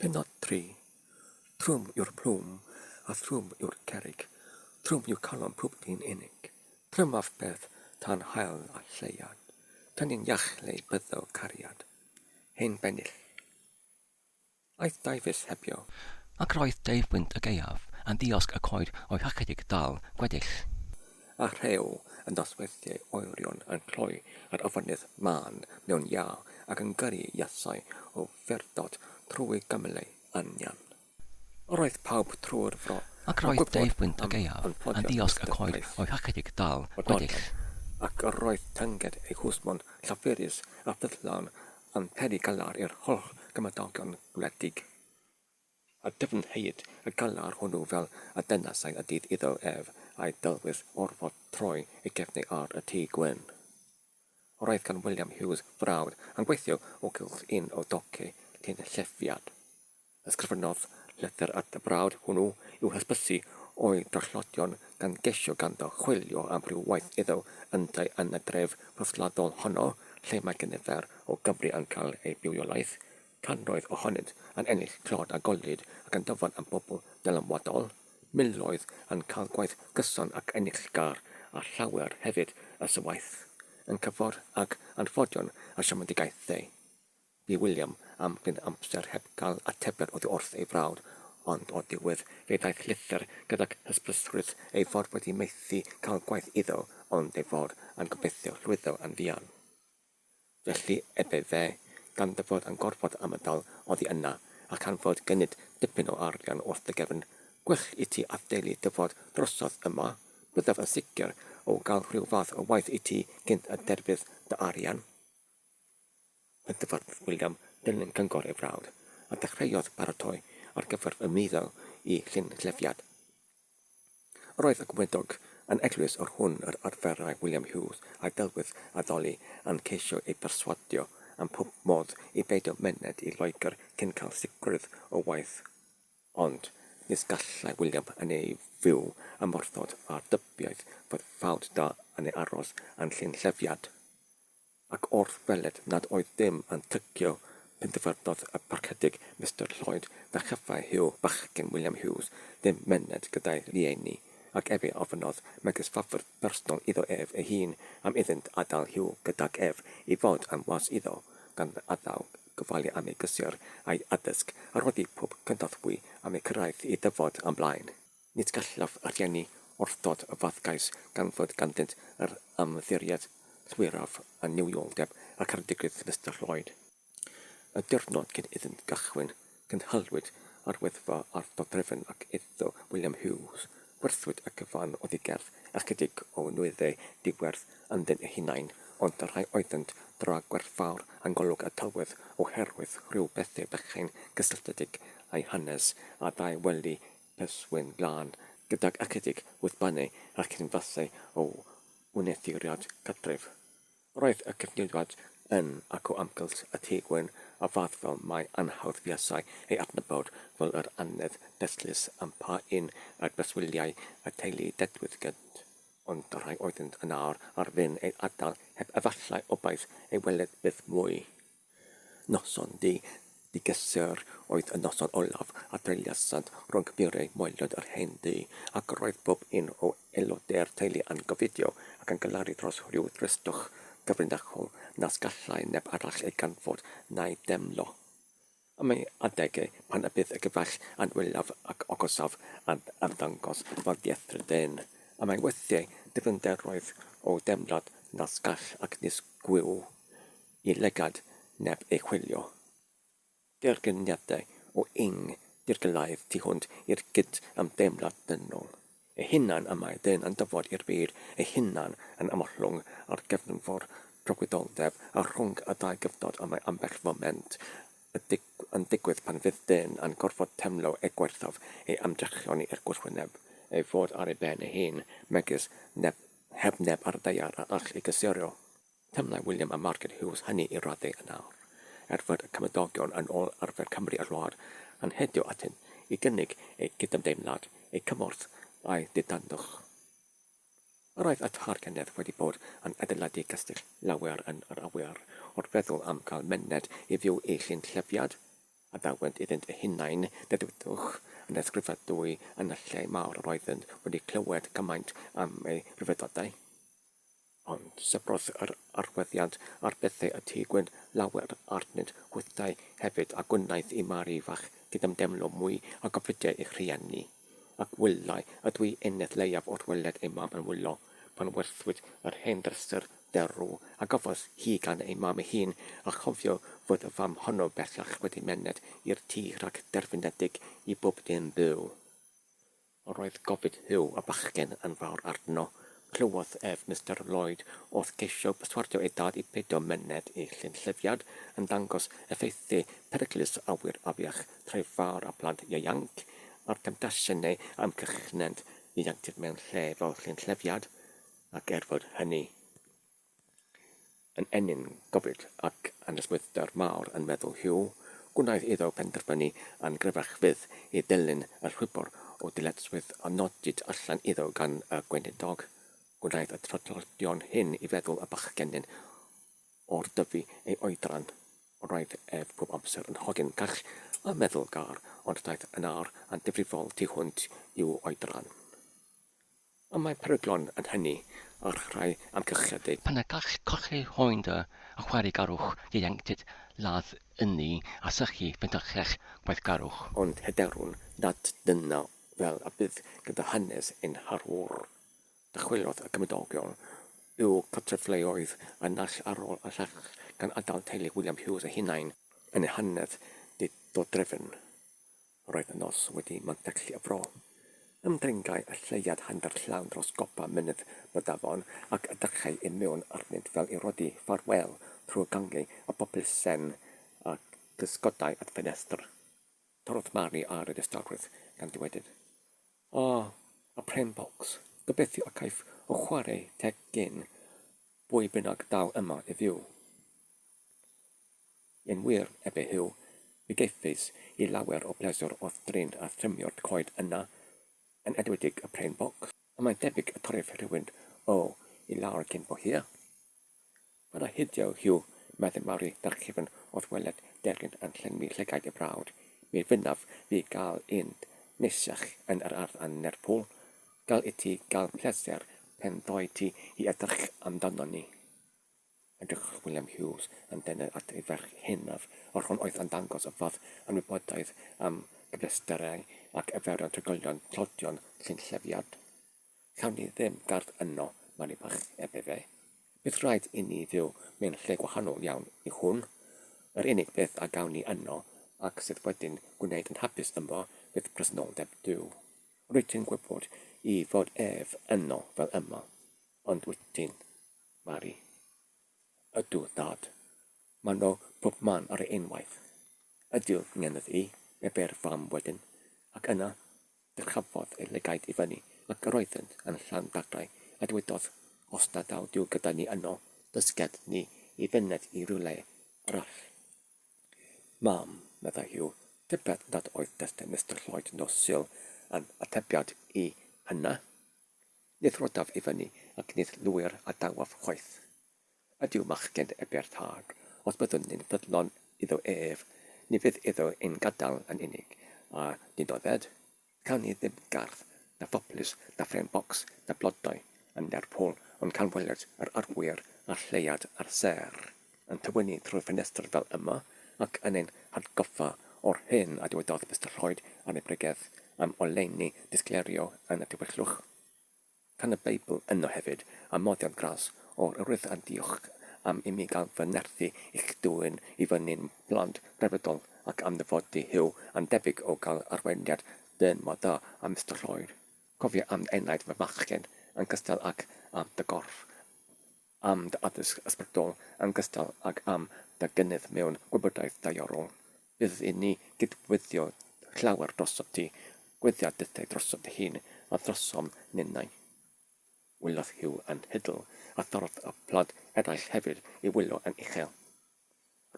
Pennod 3. Trwm yw'r plwm, a thrwm yw'r cerrig, trwm yw calon pob dyn unig. Trymaf beth tan hael a lleiad, tan yn iach lle byddo cariad. Hen bennill. Aeth Davies hebio. Ac roedd Dave Wynt y gaeaf yn ddiosg y coed oedd ychydig dal gweddill. A rhew yn dosweddiau oerion yn cloi ar afonydd mân mewn iâ ac yn gyrru iasau o furdod trwy gymylau anian. Roedd pawb trwy'r fro Ac roedd Dave Wynt y gaeaf yn ddiosg y coed oedd ychydig dal gweddill. Ac roedd tynged ei hwsmon llafurus a ffyddlawn Yn peri galar i'r holl gymdogion gwledig, a dyfnheid y galar hwnnw fel y dynasai y dydd iddo ef a'i dylwyth orfod troi eu cefnau ar y Tŷ Gwyn. Roedd gan William Hughes frawd yn gweithio o gylch un o dociau Tynllefiant, Ysgrifennodd lythyr at y brawd hwnnw i'w hysbysu o'i drollodion gan gesio ganddo chwilio am ryw waith iddo yntau yn y dref rhythladol honno lle mae cynifer o Gymry yn cael eu bywiolaeth, cannoedd ohonynt yn ennill clod a gollid ac yn dyfan am bobl dylanwadol, miloedd yn cael gwaith gyson ac enillgar a llawer hefyd y sy waeth yn cyffordd ag anffodion a siomedigaethau. Bu William am gyn amser heb gael atebion oddi wrth ei frawd, ond o'r diwedd fe ddaeth llythyr gydag hysbysrwydd ei fod wedi methu cael gwaith iddo ond ei fod yn gobeithio llwyddo yn fuan. Felly ebe fe, gan dy fod yn gorfod ymadael oddi yna, a chan fod gennyt dipyn o arian wrth dy gefn, gwych i ti adeili dy fod drosodd yma, byddaf yn sicr o gael rhyw fath o waith i ti cynt y derfydd dy arian. Mae Dyfrdwy William yn Gyngor ei frawd, a dechreuodd baratoi ar gyfer ymwyddo i Llynllyfiad. Yr oedd y gweinidog yn eglwys o'r hwn yr arferai William Hughes a'i delwydd addoli yn ceisio ei berswadio am pob modd i beidio myned i Loegr cyn cael sicrwydd o waith. Ond nis gallai William yn ei fyw ymwrthod â'r dybiaeth fod ffawd da yn ei aros yn Llynllyfiad. Ac wrth weled nad oedd dim yn tycio, penderfynodd y Parchedig Mister Lloyd na chyffai Huw bachgen William Hughes ddim myned gyda'i rhieni, ac efe ofynnodd megis ffafr bersonol iddo ef ei hun am iddynt adael Huw gydag ef i fod yn was iddo, gan addaw, gofalu am ei gysur a'i addysg, a rhoddi pob cynorthwy am ei cyrraedd i ddyfod ymlaen. Nid gallaf rhieni orfodol y fath gais gan fod ganddynt yr ymddiriedaeth llwyraf a newioldeb ac ardigrwydd Mister Lloyd. Y diwrnod cyn iddynt gychwyn, cynhaliwyd arwyddfa ar dodrefn ac iddo William Hughes, gwerthwyd y cyfan oddi gerdd ychydig o nwyddau diwerth ynddyn eu hunain, ond y rhai oeddynt dra gwerthfawr yng ngolwg y tywydd oherwydd rhyw bethau bychain gysylltiedig â'i hanes a ddau wely Perswyn glân gydag acidig wrth banu ac yn fasu o wneuthuriad cartref. Roedd y cyfnewid yn agor amgylch y Tŷ Gwyn a fath fel mai anhawdd fuasai ei adnabod fel yr annedd dystlys am pa un ar breswyliau y teulu dedwydd gynt, ond y rhai oeddynt yn awr ar fin ei adael heb efallai obaith ei weled byth mwy. Noson du, du gysur oedd y noson olaf a dreuliasant rhwng murau moelod yr hen dŷ, ac roedd pob un o aelodau'r teulu yn gofidio ac yn galaru dros ryw dristwch gyfrinachol nas gallai neb arall ei ganfod na'i deimlo. Am ei adegau, pan y bydd y gyfaill yn wylaf ac ogysaf yn ymddangos fel diethr dyn, am ei weithiau, dyfnder roedd o deimlad nas gall ac nis gwyw y lygad neb ei chwilio. Dergyniadau o ing dirgelaeth tu hwnt i'r gyd-ymdeimlad dynol, ei hunan y mae dyn yn dyfod i'r byd ei hunan yn ymhlyng ar gefnfor dragwyddoldeb a rhwng y dau gyfnod y mae ambell foment yn digwydd pan fydd dyn yn gorfod teimlo ei gwaethaf ei ymdrechion i'r gwrthwyneb, ei fod ar ei ben ei hun, megis neb heb neb ar y daear a all ei gysurio. Teimlai William a Margaret Hughes hynny i raddau yn awr, er fod y cymdogion yn ôl arfer Cymru a'r wlad yn hedio atyn i gynnig eu cydymdeimlad, eu cymorth a'u didandwch. Yr oedd y Tad Kenneth wedi bod yn adeiladu cestyll lawer yn yr awyr, wrth feddwl am gael myned i fyw i Llyn Llefiad, a dawent iddynt eu hunain, dedwyddwch, yn ysgrifadwy yn y lle mawr yr oeddynt wedi clywed cymaint am ei ryfeddodau. ond sefydlodd yr arwyddiant ar bethau y tu gwyn lawer arnynt hwythau hefyd, a gwnaeth i Mari fach gydymdeimlo mwy â gofydiai ei rhieni. Ac wyliau, a dwi eneth leiaf o'r weled ei mam yn wylo, pan werthwyd yr hen dryser derw a gafodd hi gan ei mam ei hun, a chofio fod y fam honno bellach wedi myned i'r tŷ rhag derfynedig i bob un byw. Yr oedd gofid Huw a bachgen yn fawr arno. Clywodd ef Mister Lloyd oedd ceisio perswadio ei dad i beidio myned i Llyn-llyfiad, yn dangos effeithie peryglus awyr afiach Trefaor a phlant ieuanc, a'r temtasiwn ei amgylchnent ieuenctid mewn lle fel Llyn-llyfiad, ac er fod hynny. Yn ennyn gofid ac anesmwythder mawr yn meddwl Hugh, gwnaeth iddo benderfynu yn gryfach fyth i ddilyn y rhwybr o ddyletswydd a nodid allan iddo gan y gweinidog. Gwnaeth y traddodion hyn i feddwl y bachgenyn o'r dyfu ei oedran. Roedd ef pob amser yn hogyn cach a meddylgar, ond daeth yn âr yn ddifrifol tu hwnt i'w oedran. Ond mae peryglon yn hynny ar rai amgylchiadau. Pan y gall colli hoen dy achwarigarwch ieuenctid ladd ynni a sychu pentyllell gweithgarwch. Ond hyderwn nad dyna fel y bydd gyda hanes ein harwr. Dychwelodd y cymdogion i'w cartrefleoedd y naill ar ôl y llall gan adael teulu William Hughes eu hunain yn eu hanedd didodrefn. Roedd y nos wedi mantyllu y fro. Ymddengai y lleuad hanner llawn dros gopa mynydd Brydafon ac edrychai i mewn arnynt fel i rodi ffarwél trwy gangiau a bopys sen a gysgodai at ffenestr. Torrodd Mari ar y distawrwydd gan ddywedyd, O, y pren bocs, gobeithio y caiff o chwarae teg gen bwy bynnag daw yma i fyw. Yn wir, erbyn Huw, mi geifais i lawer o bleser wrth drin a thrymio'r coed yna, yn edwedig y pren boc. Ond mae'n debyg y torrif rhywun o i lawr cyn bo hir. Paid â hidio, Huw, meddai Mari ddarchifn wrth weled deryn yn llenwi llygaid y brawd, mi fynnaf fi gael un neisiach yn yr ardd yn Lerpwl. Gall i ti gael pleser pen ddoe ti i edrych amdanon ni. Edrychodd William Hughes yn dynner at ei ferch hynaf, yr hwn oedd yn dangos y fath anwybodaeth am gyfleusterau ac arferion trigolion tlodion llynllefiad. Cawn ni ddim gardd yno, Mari Bach, ebe fe. Bydd rhaid i ni fyw mewn lle gwahanol iawn i hwn. Yr unig beth a gawn ni yno, ac sydd wedi'n gwneud yn hapus yma, fydd presenoldeb Duw. Rwyt ti'n gwybod, i fod ef yno fel yma. Ond wyt ti'n? Mari, Ydw, dad. Mae 'na bobman ar ei unwaith. Ydyw, ngennydd i, ebe'r fam wedyn, ac yna dyrchafodd ei lygaid i fyny ac yr oeddynt yn llawn daglau a dywedodd, Os na daw Duw gyda ni yno, dysged ni i fyned i rywle arall. Mam, meddai Huw, tybed nad oedd testun Mister Lloyd nos Sul yn atebiad i hynna? Nid rhoddaf i fyny ac nid lwyr a dawaf chwaith. Ydyw machgen eber tâg, os byddwn ni'n ffyddlon iddo ef, ni fydd iddo ein gadael yn unig, a dinodded. Cawn ni ddim gardd, na phoplis, na ffrêm bocs, na blodau yn Lerpwl, ond cawn weled yr arwyr a'r lleuad a'r sêr. yn tywynnu trwy'r ffenestr fel yma ac yn ein hatgoffa o'r hyn a dywedodd Mister Lloyd ar ei bregeth am oleuni disgleirio yn y Tywyllwch. Can y Beibl yno hefyd, a moddion gras o'r Urdd a diolch am imi gael fy nerthu i'ch dwyn i fyny'n blant grefyddol ac am ddyfodi Huw a'n debyg o gael arweiniad dân mor dda â Mister Lloyd. Cofia am enaid fy machgen yn cystal ac am dy gorff am dy addysg ysbrydol yn gystal ag am dy gynnydd mewn gwybodaeth daearol. Bydd i ni gydweithio llawer drosof ti, gweithio dethau drosof dy hun a throsom ninnau. Wylodd Huw yn hidl, a thorodd y plant eraill hefyd i wylo yn uchel.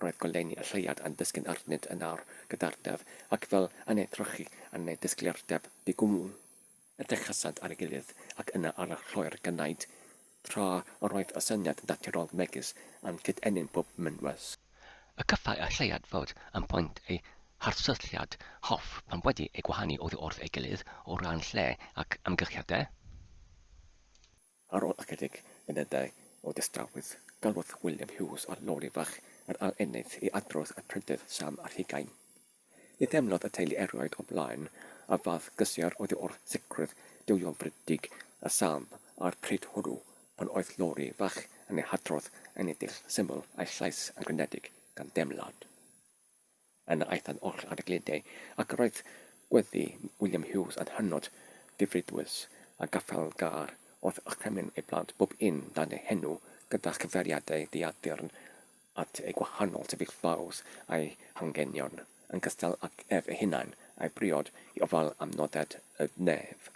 Roedd goleuni y lleuad yn disgyn arnynt yn awr gyda'r-daf, ac fel yn eu trochi yn eu disgleirdeb di-gwmwl, edrychasant ar ei gilydd ac yna ar y lloer gynaed, tra yr oedd y syniad naturol megys yn cyd-ennyn pob mynwes. Y cyffai y lleuad fod yn point eu harsylltiad hoff pan wedi eu gwahanu oddi wrth ei gilydd o ran lle ac amgylchiadau. Ar ôl ychydig funudau o dystrawedd, galwodd William Hughes ar lori fach yr aeloneyd i adrodd y prydydd Sam ar hugain. Ni theimlodd y teulu erioed o blaen y fath gysur oddi wrth sicrwydd duwiolfrydig y Sam a'r pryd hwnnw pan oedd lori fach yn ei hadrodd yn edrych syml a'i llais yn grynedig gan deimlad. Yna aethant oll ar y gludie, ac roedd gweddi William Hughes yn hynod ddifridwys, a gaffael gar wrth orchymyn ei blant bob un dan ei henw, gyda chyfeiriadau diaddurn at eu gwahanol sefyllfaoedd a'u hangenion, yn gystal ag ef ei hunain, a'i briod i ofal am nodded y nef.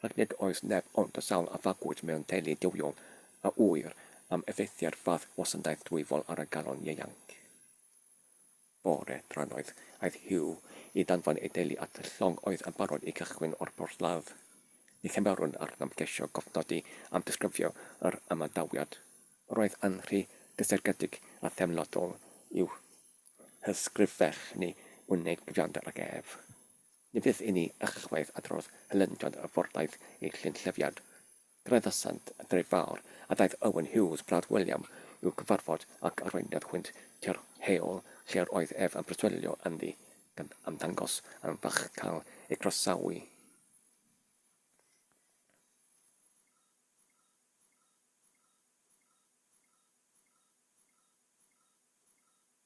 Ac nid oes neb ond y sawl a fagwyd mewn teulu duwiol a ŵyr am effeithiau'r fath wasanaeth dwyfol ar y galon ieuanc. Bore drannoeth, aeth Hugh i danfon ei deulu at y llong oedd yn barod i gychwyn o'r porthladd. Ni chymerwn arnom geisio cofnodi am ddisgrifio yr ymadawiad. Roedd yn rhy gysegredig a theimladol i'w hysgrifennu wneud cyfiawnder ag ef. Ni fydd i ni ychwaith adrodd hylendiodd y fordaith ei chyn-llyfiad. Gredasant y dref fawr a daeth Owen Hughes, brawd William, i'w gyfarfod ac arweiniodd hwynt tua'r heol lle yr oedd ef yn preswylio ynddi, gan ymddangos yn falch cael ei groesawu.